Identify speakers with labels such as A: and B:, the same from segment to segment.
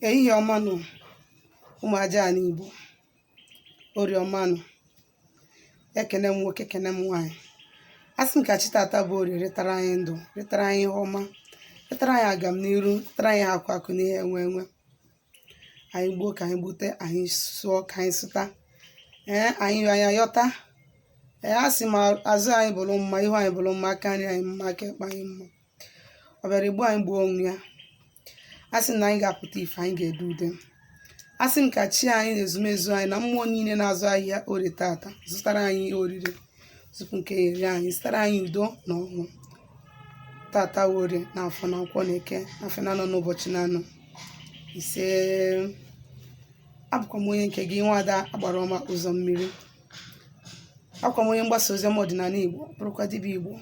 A: ehihie ọma nụ ụmụ aja ala Igbo orie ọma nụ ekene m nwoke ekene m nwaanyị asị m ka chi tata bụ orie ritara anyị ndụ ritara anyị ihe ọma ritara anyị agamniru ritara anyị ihe akụ akụ na ihe enwe enwe anyị gbuo ka anyị gbute anyị sụọ ka anyị sụta ee anyị yọọ anyị ayọta ee asị m azụ anyị bụrụ mma ihu anyị bụrụ mma aka nri anyị mma aka ekpe anyị mma ọ bịara igbu anyị gbuo onwe ya asị m na anyị ga-apụta ife anyị ga-ede ude asị m ka chi anyị na ezumezu anyị na mmụọ niile na-azụ ahịa orie tata zụtara anyị ihe oriri tupu nke ya eri anyị zụtara anyị udo na ọṅụ tata wụ orie na afọ na nkwọ na eke na afịa na anọ n'ụbọchị na anọ ise abụkwa m onye nke gị nwada agbara ọma ụzọ mmiri abụkwa m onye mgbasa ozi ọma ọdịnala igbo bụrụkwa dibịa igbo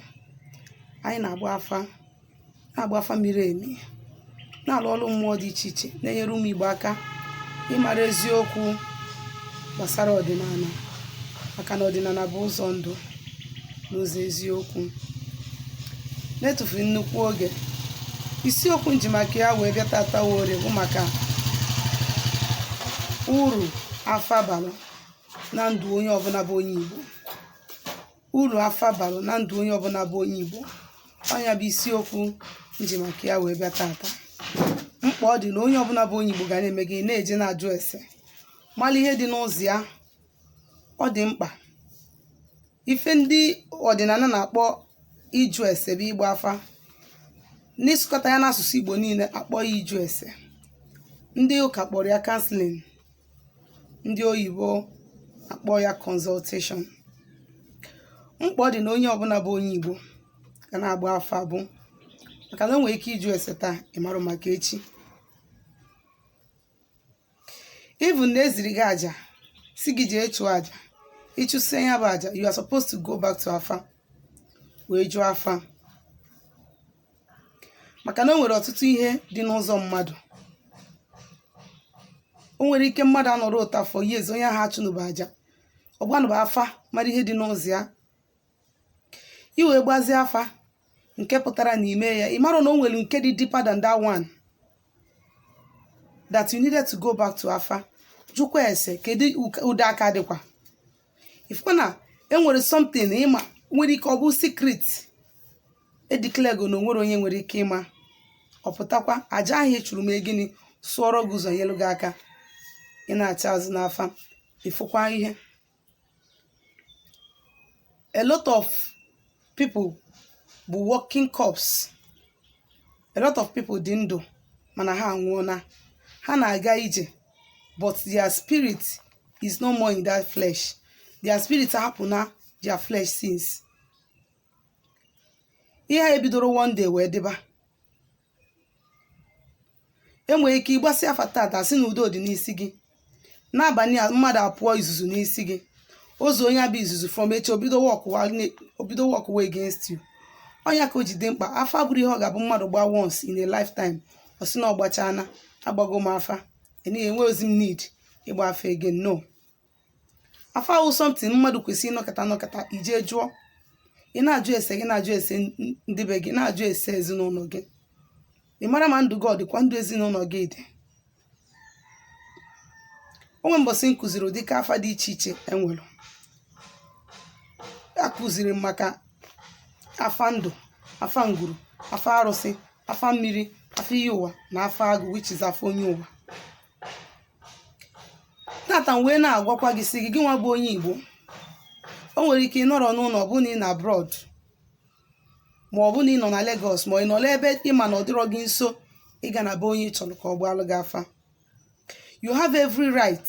A: anyị na-agba afa na-agba afa miri emi na-alụ ọrụ mmụọ dị iche iche na-enyere ụmụ igbo aka ịmara eziokwu gbasara ọdịnala maka na ọdịnala bụ ụzọ ndụ na ụzọ eziokwu na-etufughị nnukwu oge isiokwu m ji maka ya wee bịa tata wụ orie bụ maka uru afa bara na ndụ onye ọbụla bụ onye Igbo uru afa bara na ndụ onye ọbụla bụ onye Igbo ọ ya bụ isiokwu m ji maka ya wee bịa tata mkpa ọ dị na onye ọbụla bụ onye Igbo ga na-eme gịnị na-eje na-ajụ ese mara ihe dị n'ụzọ ya ọ dị mkpa ife ndị ọdịnala na-akpọ ịjụ ese bụ ịgba afa n'ịsụkọta ya n'asụsụ Igbo niile akpọ ya ịjụ ese ndị ụka kpọrọ ya counseling ndị oyibo akpọ ya consultation mkpa ọ dị na onye ọbụla bụ onye igbo ga na-agba afa bụ maka na o nwere ike ịjụ ese taa ị marụ maka echi even na e ziri gị aja sị gị jee chụọ aja ị chụsịa ya bụ aja you are supposed to go back to afa wee jụọ afa maka na o nwere ọtụtụ ihe dị n'ụzọ mmadụ o nwere ike mmadụ anọrọ up to four years onye ahụ achụnụba aja ọ gbanụba afa mara ihe dị n'ụzọ ya i wee gbazie afa nke pụtara na ime ya ị mara na o nwere nke dị deeper than that one that you needed to go back to afa jụkwa ese kedu ụdị aka dịkwa ị fụkwa na e nwere something ị ma nwere ike ọ bụ secret e declarego na o nwere onye nwere ike ịma ọ pụtakwa aja ahụ ị chụrụ mee gịnị sụọrọ gị ụzọ nyelu gị aka ị nachaa azụ n'afa ị fụkwa ihe a lot of people bụ walking corpse a lot of people dị ndụ mana ha anwụọna ha na-aga ije but their spirit is no more in that flesh their spirit hapụna their flesh since ihe a ebidoro one day wee dịba e nwere ike ịgbasị afa tata sị na udo dị n'isi gị n'abalị a mmadụ apụọ izuzu n'isi gị ozu onye abụ izuzu from echi o bido workụwa ne- o bido workụwa against you ọ nya ka o ji dị mkpa afa abụrọ ihe ọ ga-abụ mmadụ gbaa once in a lifetime ọ sị na ọ gbachana agbago m afa enye enwerozi m need ịgba afa again no afa wụ something mmadụ kwesịrị ịnọkata anọkata i je jụọ ị na-ajụ ese gị na-ajụ ese n- ndị be gị na-ajụ ese ezinụlọ gị ịmara ma ndụ gị ọ dịkwa ndụ ezinụlọ gị dị o nwee mbọsị m kụziri ụdị ka afa dị iche iche e nwere akụziri m maka afa ndụ afa ngwuru afa arụsị afa mmiri afa iyi ụwa na afa agụ which is afa onye ụwa tata m wee na-agwakwa gị sị gị gị nwa bụ onye Igbo o nwere ike ịnọrọ n'ụlọ ọ bụrụ na ị nọ abroad ma ọ bụrụ na ị nọ na Lagos ma ị nọ n'ebe ị ma na ọ dịrọ gị nso ịga na be onye ị chọrọ ka ọ gbaalụ gị afa you have every right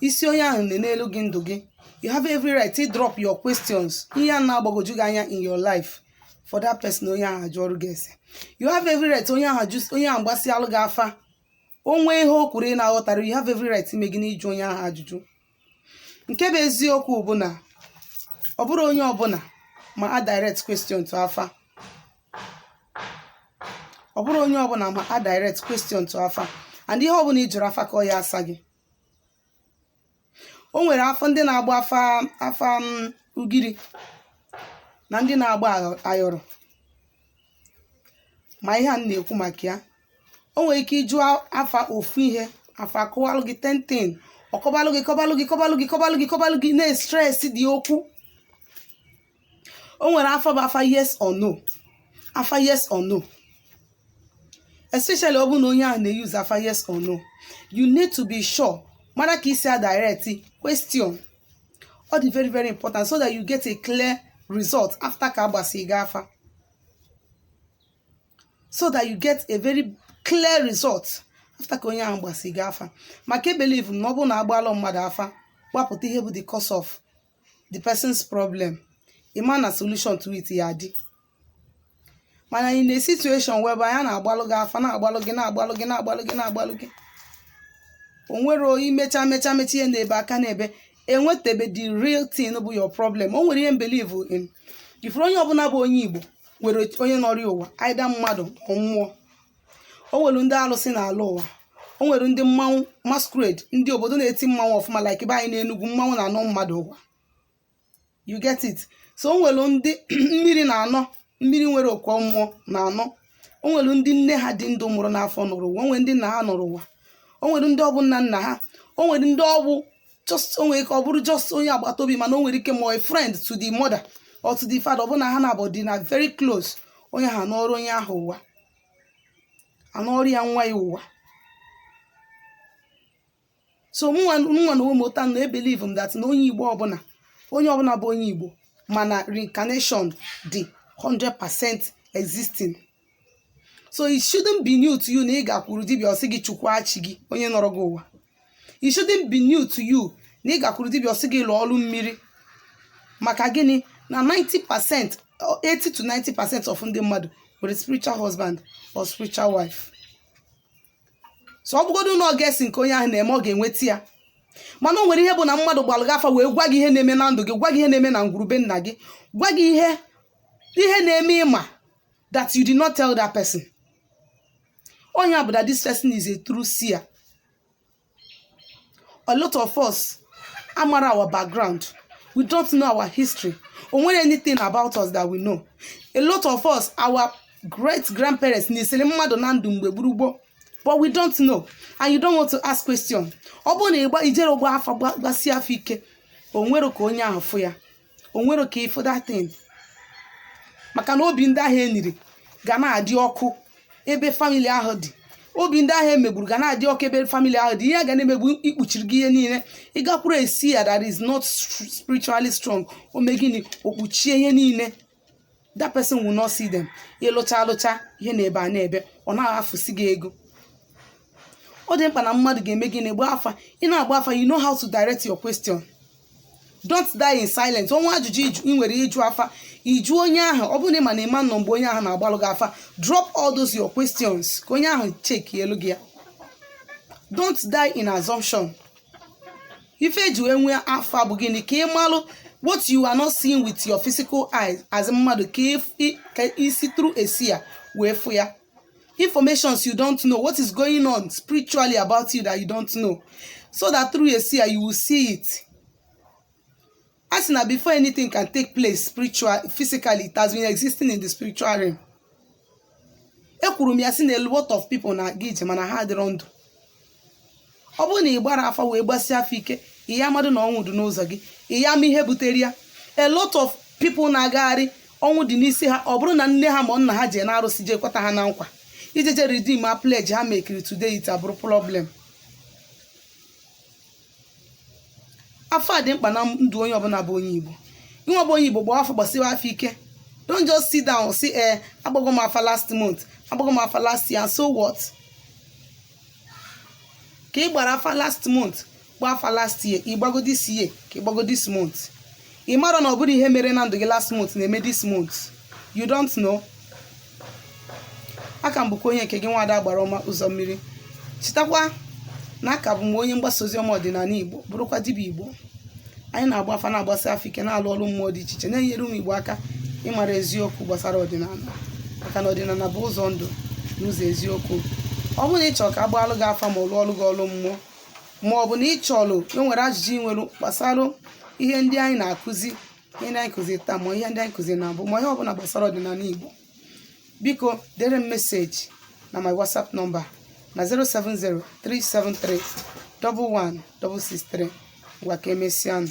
A: ịsị onye ahụ nenelụ gị ndụ gị you have every right to drop your questions ihe a na-agbagwoju gị anya in your life for that person onye ahụ ajụọrụ gị ese you have every right onye ahụ ajụ onye ahụ gbasịalụ gị afa o nwee ihe o kwuru ị na-aghọtara you have every right ime gịnị ịjụ onye ahụ ajụjụ nke bụ eziokwu bụ na ọ bụrọ onye ọbụla ma adirect question to afa ọ bụrọ onye ọbụla ma adirect question to afa and ihe ọbụla ị jụrụ afa ka ọ ya-asa gị o nwere afọ ndị na-agba afa afa m ugiri na ndị na-agba ayọ- ayọrọ ma ihe a m na-ekwu maka ya o nwere ike ịjụ afa ofu ihe afa kụwalụ gị tenten ọkọbalụ gị kọbalụ gị kọbalụ gị kọbalụ gị kọbalụ gị na-estres dị okwu o nwere afa bụ afa yes or no afa yes or no especially ọ bụrụ na onye ahụ na-euse afa yes or no you need to be sure mara ka i si adirect question ọ dị very very important so that you get a clear result after ka a gbasị gị afa so that you get a very clear result after ka onye ahụ gbasị gị afa maka e believe na ọ bụrụ na a gbalụ mmadụ afa gbapụta ihe bụ the cause of the person's problem ị ma na solution to it ya adị mana in a situation whereby a na-agbalụ gị afa na-agbalụ gị na-agbalụ gị na-agbalụ gị na-agbalụ gị o nwere imecha mecha mecha ihe na-ebe a ka na-ebe enwetebe the real thing bụ your problem o nwere ihe m believe in ị fụrụ onye ọbụla bụ onye igbo nwere onye nọrọ ụwa either mmadụ ma mmụọ o nwere ndị alụsị na-alọ ụwa o nwere ndị mmanwụ masquerade ndị obodo na-eti mmanwụ ọfụma like be anyị n'enugwu mmanwụ na-anọ mmadụ ụwa you get it so o nwere ndị mmiri na-anọ mmiri nwere okwu mmụọ na-anọ o nwere ndị nne ha dị ndụ mụrụ n'afọ nọrọ ụwa o nwere ndị nna ha nọrọ ụwa o nwere ndị ọ bụ nna nna ha o nwere ndị ọ bụ just o nwere ike ọ bụrụ just onye agbata obi mana o nwere ike ma a friend to the mother or to the father ọ bụ na ha na-abụ dị na very close onye ahụ anọrọ onye ahụ ụwa anọọrọ ya nwa ya ụwa so mụnwa n'onwe m ịghọta na ebelieve m that na onye igbo ọbụla onye ọbụla bụ onye igbo ma na reincarnation dị 100% existing so it shouldn't be new to you na ị gakwuru dibịa ọ sị gị chukwu achị gị onye nọrọ gị ụwa it shouldn't be new to you na ị gakwuru dibịa ọ sị gị lụọ ọrụ mmiri maka gịnị na 90 percent 80 to 90 percent of ndị mmadụ nwere spiritual husband or spiritual wife so ọ bụgodu na ọ guessing ka onye ahụ na-eme ọ ga-enweta ya mana o nwere ihe bụ na mmadụ gbalụ gị afa wee gwa gị ihe na-eme na ndụ gị gwa gị ihe na-eme na ngwuru be nna gị gwa gị ihe ihe na-eme ị ma that you did not tell that person onye a bụ that this person is a true seer a lot of us amarọ our background we don't know our history o nwerọ anything about us that we know a lot of us our great grandparents nisiri mmadụ na ndụ mgbe gboo gboo but we don't know and you don't want to ask question ọ bụrụ na ịgba ijere ọgba afa gba- gbasie afa ike o nwere ka onye ahụ fụ ya o nwere ka ịfụ that thing maka na obi ndị ahụ eniri ga na-adị ọkụ ebe family ahụ dị obi ndị ahụ emegburu ga na-adị ọkụ ebe family ahụ dị ihe a ga na-eme bụ ikpuchiri gị ihe niile ị gakwuru a seer that is not str- spiritually strong o mee gịnị o kpuchie ihe niile that person will not see them ịlụcha alụcha ihe na-ebe a na-ebe ọ na-afụsi gị ego ọ dị mkpa na mmadụ ga-eme gịnị gbaa afa ị na-agba afa you know how to direct your question don't die in silence o nwee ajụjụ ịjụ- ị nwere ịjụ afa ị jụọ onye ahụ ọ bụrụ na ị ma na ị ma nọ mgbe onye ahụ na-agbalụ gị afa drop all those your questions ka onye ahụ checkielu gị ya don't die in assumption ife eji wee nwee afa bụ gịnị ka ị malụ what you are not seeing with your physical eyes as mmadụ ka if- i- ka i si through a seer wee fụ ya informations you don't know what is going on spiritually about you that you don't know so that through a seer you will see it a sị na before anything can take place spiritual physically it has been existing in the spiritual realm ekwuru m ya sị na a lot of people na-aga ije mana ha adịrọ ndụ ọ bụrụ na ị gbara afa wee gbasie afa ike ị ya-amadụ na ọnwụ dị n'ụzọ gị ị ya-ama ihe butere ya a lot of people na-agagharị ọnwụ dị n'isi ha ọ bụrụ na nne ha ma nna ha jee n'arụsị jee kweta ha na nkwa ije je redeem a pledge ha mekiri today it abụrụ problem afa dị mkpa na ndụ onye ọbụla bụ onye igbo inwe bụ onye igbo gbaa afa gbasiwe afa ike don't just sit down sị ee agbago m afa last month agbago m afa last year so what ka ị gbara afa last month gbaa afa last year ị gbago this year ka ị gbago this month ị marọ na ọ bụrọ ihe mere na ndụ gị last month na-eme this month you don't know aka m bụkwa onye nke gị nwada agbara ọma ụzọ mmiri chetakwa na aka bụ m onye mgbasa ozi ọma ọdịnala igbo bụrụkwa dibịa igbo anyị na-agba afa na-agbasi afa ike na-alụ ọrụ mmụọ dị iche iche na-enyere ụmụ igbo aka ịmara eziokwu gbasara ọdịnala maka na ọdịnala bụ ụzọ ndụ na ụzọ eziokwu ọ bụrụ na ị chọrọ ka a gbaalụ gị afa ma ọ lụọrụ gị ọrụ mmụọ ma ọ bụ na ị chọrọ e nwere ajụjụ ị nwere gbasara ihe ndị anyị na-akụzi ihe ndị anyị kụzi taa ma ihe ndị anyị kụzi na mbụ ma ihe ọbụla gbasara ọdịnala Igbo biko dere m message na my WhatsApp number na 07037311663 ngwa ka emesịa nụ